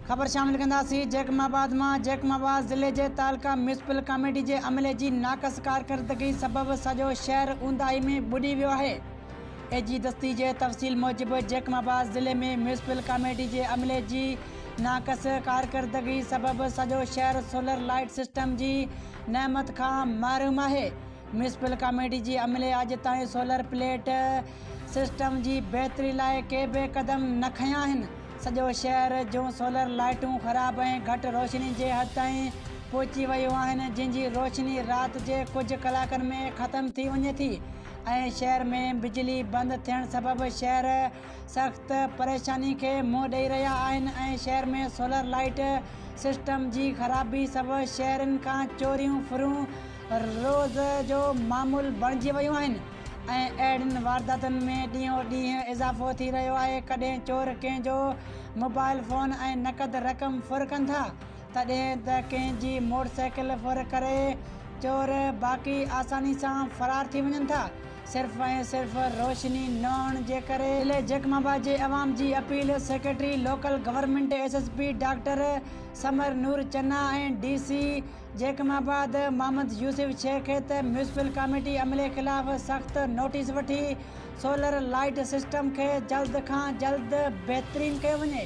خبر شامل ڪنداسين جيڪب آباد مان جيڪب آباد ضلعي جي تعلقه ميونسپل ڪاميٽي جي عملي جي ناقص ڪارڪردگي سبب سڄو شهر اونداهي ۾ ٻڏي ويو آهي اي جي دستي جي تفصيل موجب جيڪب آباد ضلعي ۾ ميونسپل ڪاميٽي جي عملي جي ناقص ڪارڪردگي سبب سڄو شهر سولر لائيٽ سسٽم جي نعمت کان محروم آهي ميونسپل ڪاميٽي جي عملي اڄ تائين سولر پليٽ سسٽم جي بهتري لاء ڪي به قدم نه کنيا آهن، سڄو شهر جون سولر لائيٽون خراب ۽ گهٽ روشني جي حد تائين پهچي ويون آهن، جن جي روشني رات جي ڪجهه ڪلاڪن ۾ ختم ٿي وڃي ٿي ۽ شهر ۾ بجلي بند ٿيڻ سبب شهري سخت پريشاني کي منهن ڏئي رهيا آهن ۽ شهر ۾ سولر لائيٽ سسٽم جي خرابي سبب شهرين کان چوريون ڦرون روز جو معمول بڻجي ويون آهن ۽ اهڙين وارداتن ۾ ڏينهون ڏينهن اضافو ٿي رهيو آهي، ڪڏهن چور ڪنهن جو موبائل فون ۽ نقد رقم ڦر ڪن ٿا ته ڏهن ته ڪنهن جي موٽر سائيڪل ڦر ڪري چور باقي آساني سان فرار ٿي وڃن ٿا صرف ۽ صرف روشني نه هئڻ جي ڪري. ضلعي جيڪب آباد جي عوام جي appeal secretary local government S S P doctor Samar Noor Channa ۽ D C Jacobabad Muhammad Yousuf Shaikh ته ميونسپل ڪاميٽي عملي خلاف سخت نوٽيس وٺي سولر لائيٽ سسٽم کي جلد کان جلد بهترين ڪيو وڃي.